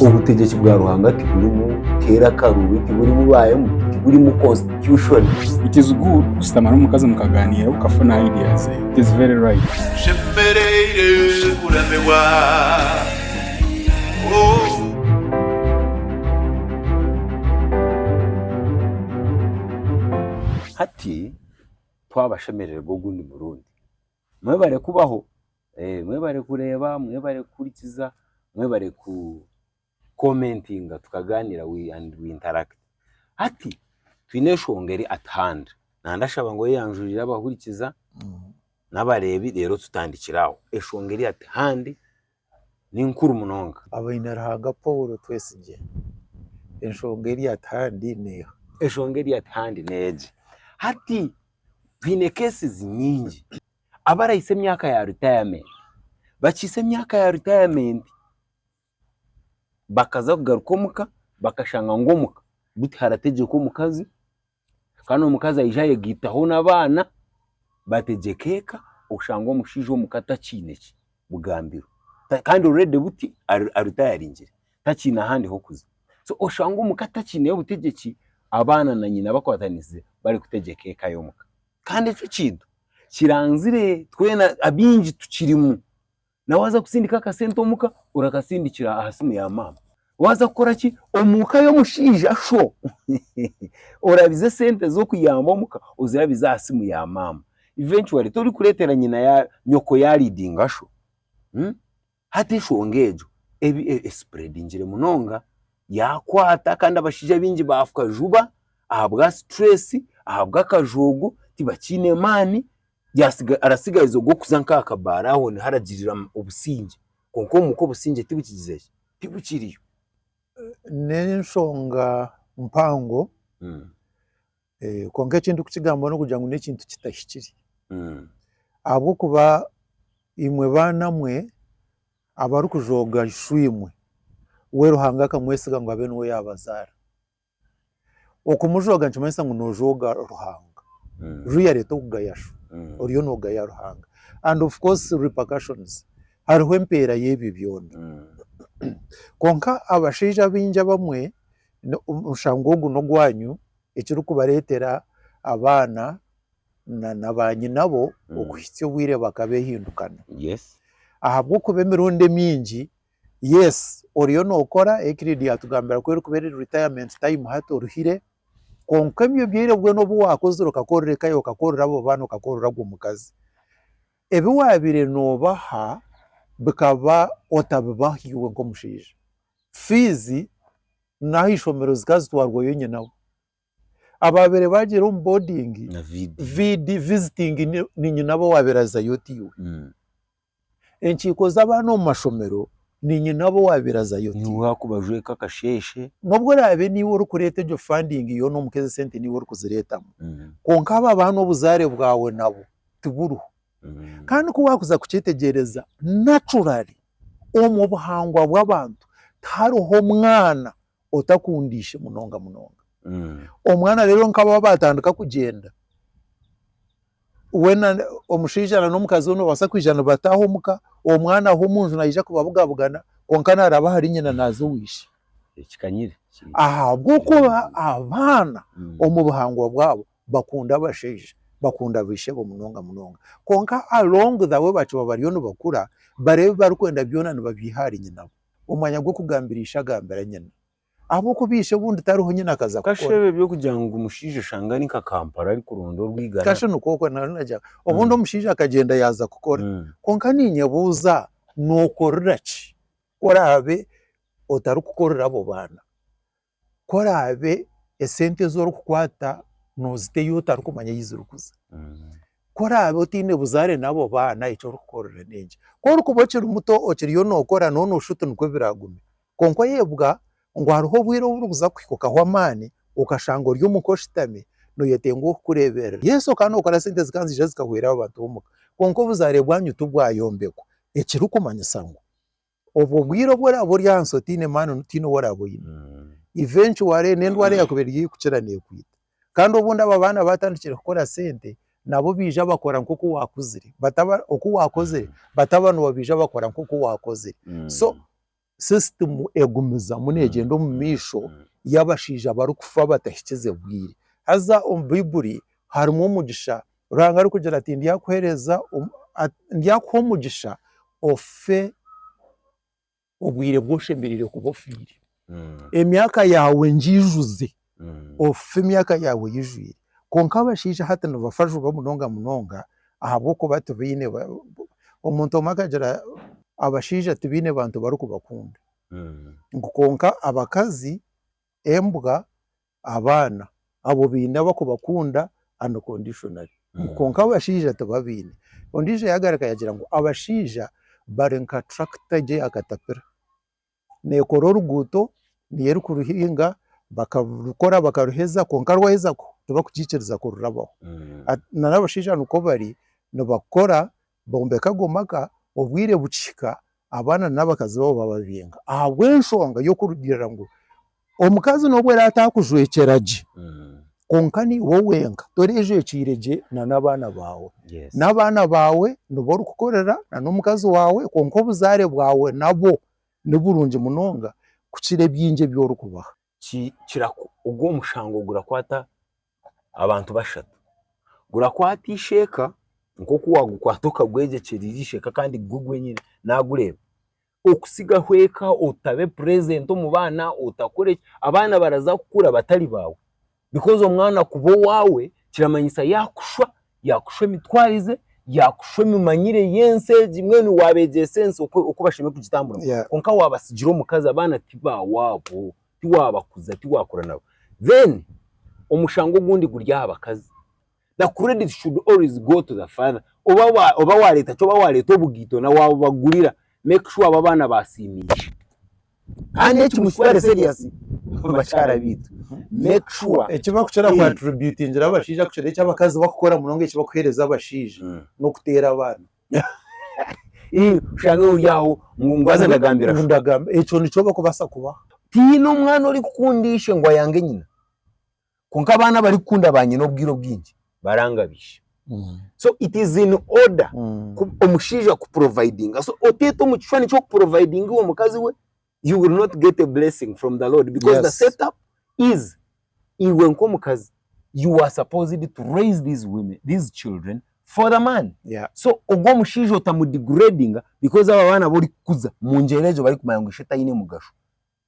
Obutegyeki bwa Ruhanga tiburimu keera akaruubi, tiburimu baayemu, tiburimu constitution. It is good kushutama n'omukazi mukagaaniira okafuna idea ze. It is very right. Nshemereire kuramirwa oh. Hati twabashemerererwa ogundi murundi. Mwebare kubaho. Mwebare kureeba, mwebare kuhurikiza, mwebare ku komentinga tukagaaniira we and we interact. Hati twine enshonga eri at hand, na ndashaba ngu oyeyanjurire abahurikiza n'abareebi reero tutandikire aho. Enshonga eri at hand ni nkuru munonga. Abaine-Ruhanga Paul Twesigye, enshonga eri at hand neeha? Enshonga eri at hand n'egi, hati twine cases nyingi. abarahitsya emyaka ya ritayamenti, bakihisya emyaka ya ritayamenti bakaza kugaruka omuka bakashanga ngu omuka gu tiharategyekwa omukazi kandi omukazi aija ayegaitaho n'abaana bategyeka eka oshanga omushaija omuka takiine ki bugambiro kandi oruredi buti aritayaringire takiine ahandi hokuza so oshanga omuka takiine butegyeki abaana na nyina bakwatanisize bari kutegyeka eka y'omuka. Kandi ekyo ekintu kiranzire twena abingi tukirimu. Nawe waza kusindika akasente omuka orakasindikira aha simu ya maama. Waza kukora ki omuka y'omushaija sho orabize esente z'okuyamba omuka ozirabize aha simu ya maama. Eventually torikuretera nyoko ya leadinga sho. Hati enshonga egyo eb esipuredingire munonga, yaakwata kandi abashaija baingi baafuka juba ahabwa situreesi, ahabw'akajoogo, tibakiine maani, yaasiga arasigariza ogwo kuza nk'aha kabaara aho niho aragirira obusingye kwonka omu ka obusingye tibukigize ki, tibukiriyo. N'enshonga mpango Eh, kwonka eki ndikukigambaho n'okugira ngu n'ekintu kitahikire Mm. ahabw'okuba imwe baana mwe abarikujooga ishwimwe we Ruhanga akamwesiga ngu abe niwe yaabazaara okumujooga nikimanyisa ngu noojooga Ruhanga Mm. ru yareeta okugaya shu Mm. oriyo noogaya Ruhanga and of course repercussions hariho empeera y'ebyo byona Mm. kwonka abashaija abaingi abamwe no- omushango ogu n'ogwanyu ekirikubareetera abaana na baanyinabo okuhitsya obwire bakabehindukana. Ahabw'okuba emirundi emiingi, yes, oriyo nookora, Euclid yaatugambira ku erikuba eri retirement time hati oruhire, kwonka ebyo obwire bwoona obu waakozire okakorera eka yaawe, okakorera abo baana, okakorera ogwo mukazi, ebi waabaire noobaha bikaba otabibaha iwe nk'omushaija, fiizi, n'aha ishomero zikazitwarwayo nyinabo. Abaabaire baagyera omu boodingi, na vidiyo VD, visiting, ni- ni nyinabo owaabaire azayo ti iwe. Mm. Enkiiko z'abaana omu mashomero, ni nyinabo owaabaire azayo ti niwe iwe. waakubajweka akasheeshe. N'obu oraabe niiwe orikureeta egyo funding yoona omuka ezi sente niiwe orikuzireetamu, Mm. kwonka abo abaana obuzaare bwawe nabo tiburiho. Kandi ku waakuza kukyetegyereza, naturally omu buhangwa bw'abantu tihariho mwana otakunda ishe munonga munonga. Omwana reero nka baaba baatandika kugyenda, weena omushaija na n'omukazi we nibabaasa kwija nibataaha omu ka, omwana aho omu nju naija kubabugabugana kwonka naaraba ahari nyina naaza owa ishe. Ahabw'okuba abaana omu buhangwa bwabo bakunde abashaija, bakunde abaishebo munonga munonga. Kwonka along the way bakiba bariyo nibakura, bari ebi barikwenda byona nibabyiha ahari nyinabo. Omwanya gw'okugambira ishe agambira nyina. Ahabw'okuba ishe obundi tariho nyina akaza kukora. Kasha ebi eby'okugira ngu omushaija oshanga ari nka Kampala arikuronda orwigara. Kasha nikwo okwo naaza nagira ngu obundi omushaija akagyenda yaaza kukora. Kwonka niinyebuuza nookorera ki ku oraabe otarikukorera abo baana? ku oraabe esente ezi orikukwata noozita ei otarikumanya ei zirikuza. Ku oraabe otaine buzaare n'abo baana eki orikukorera n'enki. Ku orikuba okiri muto okiriyo nookora nooba nooshusha oti nikwo biraaguma. Kwonka oyebwa ngu hariho obwire obu burikuza kukuhikaho amaani okashanga ori omuka oshutami nooyetenga ow'okukureeberera. Yes okaba nookora sente zikaba niziija zikahwera abo bantu b'omuka kwonka obuzaare bwanyu tibwayombekwa ekirikumanyisa ngu Obwo bwire obu oraabe ori ahansi otaine maani tihaine ou oraabe oine. Eventually n'endwara yaakuba eri haihi kukira neekwita. Kandi obundi abo abaana baatandikire kukora sente nabo baija bakora nk'oku waakuzire bataba oku waakozire bataba nibo baija bakora nk'oku waakozire. So system egumizamu neegyenda omu maisho y'abashaija abarikufa batahikize bwire. Haza omu Baibuli harimu omugisha Ruhanga arikugira ati, Ndyakuheereza, ndyakuha omugisha ofe obwire bwu oshemereire kuba ofiire. Emyaka yaawe ngiijuze, ofe emyaka yaawe eyijwire. Kwonka abashaija hati nibafa juba munonga munonga ahabw'okuba tibaine, omuntu omwe akagira abashaija tibaine bantu barikubakunda. Ngu kwonka abakazi. embwa abaana abo baine abakubakunda unconditionally kwonka abashaija tibabaine. Ondiijo yagaruka yagira ngu abashaija bari nka tractor gye ya katapira nekora oruguuto niyo erikuruhinga bakarukora bakaruheza kwonka rwaheza tibakukiikiriza kururabaho nari abashaija nikwo bari nibakora Bombeka ago maka obwire bukihika abaana n'abakazi baabo bababinga ahabw'enshonga y'okurugiirira ngu omukazi n'obu araabe ataakujwekyera gye kwonka niiwe wenka toreejwekyeire gye na n'abaana baawe. N'abaana baawe nibo orikukorera na n'omukazi waawe kwonka obuzaare bwawe nabo ni burungi munonga kukira ebingi ebi orikubaha. ogwo omushango gurakwata abantu bashatu. Gurakwata eisheeka nk'oku waagukwata okagwegyekyeria eisheeka kandi gwe gwenyine naagureeba. Okutsigaho eka otabe purezenti omu baana, otakore ki, abaana baraza kukura batari baawe Because omwana kuba owaawe kiramanyisa yaakushwa, yaakushwa emitwarize, yaakushwa emimanyire y'ensi egi, mbwenu waabeegyesa ensi oku oku bashemereire kugitamburamu. Yeah. Kwonka waabatsigira omukazi abaana ti ba waabo, tiwaabakuza, tiwaakura nabo. Then omushango ogundi guri aha bakazi, The credit should always go to the father oba wa oba wareeta ki oba wareeta obugaito na wabubagurira make sure abo abaana basiimiire kandi eki mukitware serious bakyara baitu make sure Eki bakukira ku attributingira abashaija kukira eki abakazi bakukora munonga eki bakuheereza abashaija Mm. n'okuteera abaana. Ii, oshange ori aho ngu ngu haza ndagambira Ngu sho ndagamba ekyo nikyo bakubasa kubaho. Tihaine omwana orikukunda ishe ngu ayange nyina. Kwonka abaana abarikukunda ba nyina obwire obwingi barangabisha. So it is in order ku omushaija kuprovidinga. So oteete omu kishwani ky'okuprovidinga iwe mukazi we, you will not get a blessing from the Lord because the Yes. set up is iwe nk'omukazi you are supposed to raise these women, these children for the man. Yeah. So ogwo omushaija otamudigradinga because abo abaana abu orikukuza mu ngyero egyo barikumanya ngu ishe taine mugasho.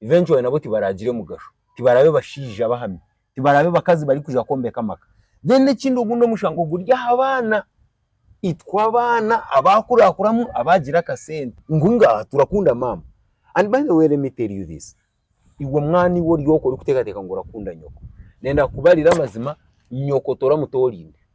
eventually nabo tibaragire mugasho, tibarabe bashaija bahami, tibarabe bakazi bari kuja kwombeka amaka. Then ekindi ogundi omushango guri aha baana, itwe abaana abakurakuramu abagira akasente ngu ngaha turakunda maama and by the way let me tell you this, iwe mwana iwe oryoka orikutekateka ngu orakunda nyoko, nenda kukubarira amazima, nyoko toramutorinde.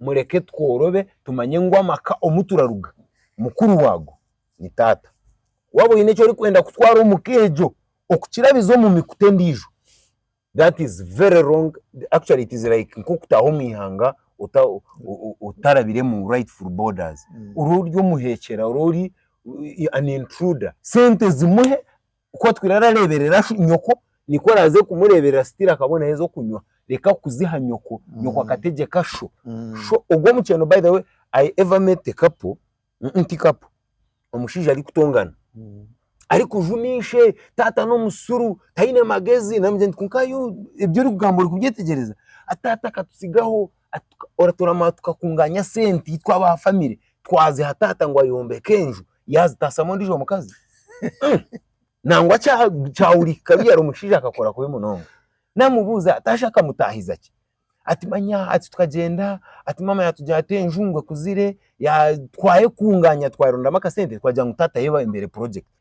Mureke tworobe tumanye ngu amaka omu turaruga mukuru waago ni taata. Waaba oine eki orikwenda kutwara omu ka egyo okukirabiza omu mikutu endiijo, that is very wrong, actually it is like nk'okutaaha omu ihanga otarabire mu rightful borders, ori ori omuheekyera, ori ori an intruder. Sente zimuhe Ku atwire arareeberera nyoko, nikwo oraaze kumureeberera sitiiri akaba naaheza okunywa. Reka kuziha nyoko, nyoko akategyeka sho. Sho ogwo omukyeno by the way, I ever met a couple, ti couple, omushaija arikutongana, arikujuma ishe, taata n'omusiru, taine magezi, naamugira nti kwonka yu ebi orikugamba ori kubyetegyereza? Ati taata akatutsigaho, atuka, oratoorama tukakungaanya sente itwe aba famire, twaziha taata ngu ayombeke enju. yaazitasamu ondiijo mukazi Mm. nangwa kya- kyahurika kikabi yari omushaija akakora kubi munonga namubuuza ati hashi akamutaahiza ki ati manya ati tukagyenda ati maama yaatugira ati enju ngu ekuzire ya- twayekungaanya twayerondamu akasente twagira ngu taata ayebumbire purojekiti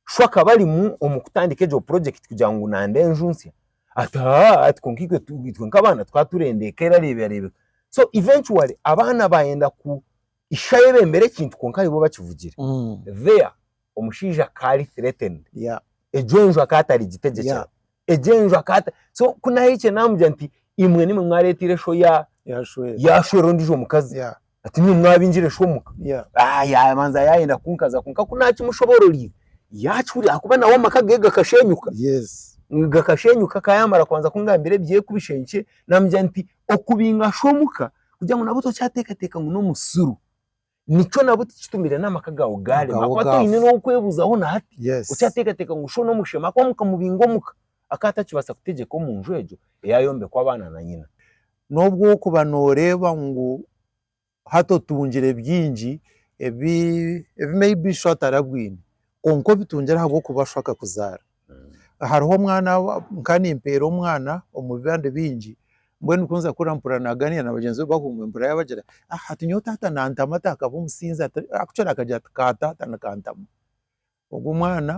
shwa akaba arimu omu kutandika egyo purojekiti kugira ngu nande enju nsya ati haa ati kwonka itwe tu itwe nk'abaana tukaba turenda eka erareebekareebeka so eventually abaana baayenda ku Ishe ayebembera ekintu kwonka ayibo bakivugire. There omushaija akaba ari threatened. Yeah. Egyo enju akaba atarigitegyekera. Yeah. Egyo enju akaba ata-. So ku naahikire naamugira nti, Imwe nimwe mwareeteire esho ya, Yaashwera. yaashwera ondiijo mukazi. Yeah. Ati nimwe mwaabingire esho omuka. Yeah. Ah, yaabanza yaayenda kunkaza kwonka ku naakimushoboororiire, yaakihurira ahakuba nawe amaka ge gakasheenyuka. Yes. Gakasheenyuka, akaba yaamara kubanza kungambira eby'ekubisha enkye, naamugira nti, Okubinga sho omuka, kugira ngu nabwo tokyateekateeka ngu n'omusiru. Nikyo nabwo tikitumire n'amaka gaawe gaarema Gaawe ahakuba gaafa. toine n'ow'okwebuzaho na hati. Yes. Okyateekateeka ngu shoona omushema ahakuba mukamubinga omuka akaba atakibaasa kutegyeka omu nju egyo eyaayombekwa abaana na nyina. N'obu orikuba nooreeba ngu hati otungire bingi ebi ebi maybe sho atarabwine, kwonka obitungire ahabw'okuba sho akakuzaara. Hariho omwana nkaba nimpeera omwana omu bibande bingi, mbwenu ku nza kukura mpurira naaganiira na bagyenzi be bahunga mpurira yaabagira ah hati nyowe taata naantama ati akaba omusinzi ati kukira akagira ati ka taata nikantama. Ogwo omwana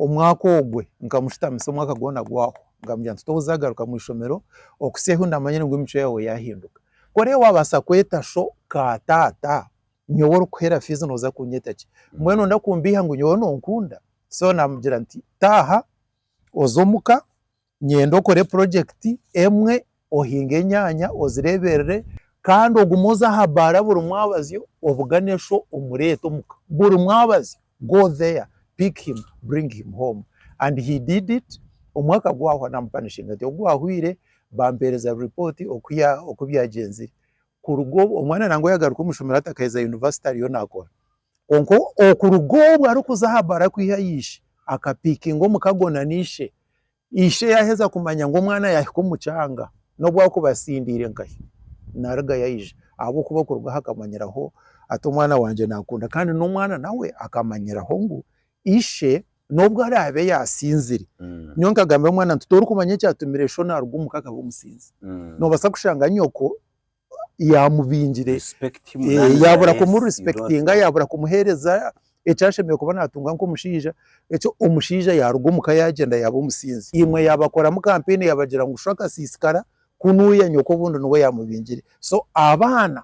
omwaka ogwe nkamushitamisa omwaka gwona gwahwa nkamugira nti toza garuka mu ishomero okutsya ahu ndamanyire ngu emicwe yaawe yaahinduka. Ku orikubaasa kweta sho ka taata. Nyowe orikuhera fiizi nooza kunyeta ki? Mbwenu nooyenda kumbiiha ngu nyowe noonkunda? So naamugira nti, Taaha oze omu ka, nyenda okore purojekiti emwe, ohinge enyaanya ozireeberere kandi ogume oze aha baara buri mwabazyo obugane sho omureete omu ka. Buri mwabazyo, go there, pick him, bring him home. And he did it, omwaka gwahwa naamupanishinga nti ogu gwahwaire, bampeereza ripooti oku byagyenzire. Kuruga obwo omwana nangwa yagaruka omu ishomero hati akaheza yunivasite ariyo nakora. Kwonka okuruga obwo arikuza aha bara kwiha aha ishe, akapikinga omukago na n'ishe. Ishe yaheza kumanya ngu omwana yahika omu kyanga, n'obu akuba atsindiire nkahi, narugayo aija ahabw'okuba okuruga aho akamanyiraho ati omwana wangye nankunda kandi n'omwana nawe akamanyiraho ngu ishe n'obu araabe yaasinzire. Mm. Nyowe nkagambira omwana nti torikumanya ekyatumire sho naaruga omuka akaba omusinzi. Mm. Noobaasa kushanga nyoko yaamubingire, Respect him, eh, none yaabura the rest, you kumurisipekitinga, don't yaabura kumuheereza eki ashemereire kuba naatunga nk'omushaija. Ekyo omushaija yaaruga omuka yaagyenda yaaba omusinzi. Imwe yaabakoramu kampeyini yaabagira ngu sho akasiisikara, ku nuuya nyoko obundi niwe yaamubingire. So abaana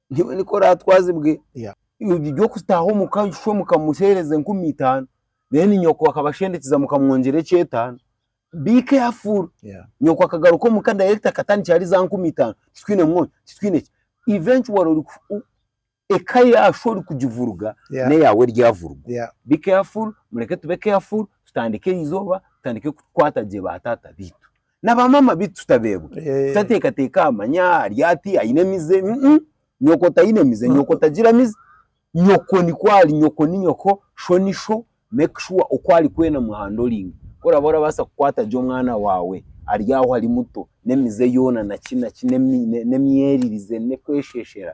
Nyowe nikwo oratwazibwe ogire kutaho omuka oshushe omuka omuhereze enkumi itano then nyoko akaba ashendekize mukamwongyera ekyetano be careful nyoko akagaruka omuka direct akatandikira ahari za nkumi itano titwine mwonyo titwine ki eventually eka yashu orikugivuruga neyawe eryavuruga be careful mureke tube careful tutandike erizooba tutandike kukwata gye ba taata beitu. Na ba maama bitu tutabeebwa. Eh. Tutateekateeka aha manya ari ati, aine emize. Mm-mm. Nyoko taine mize, nyoko tagira mize. Nyoko nikwo ari, nyoko ni nyoko, sho ni sho. Make sure oku arikwenda muhandoringe. Ku oraba orabaasa kukwata gye omwana waawe ari aho ari muto, n'emize yoona na ki na ki, n'emi n'emyeririze, n'okwesheeshera,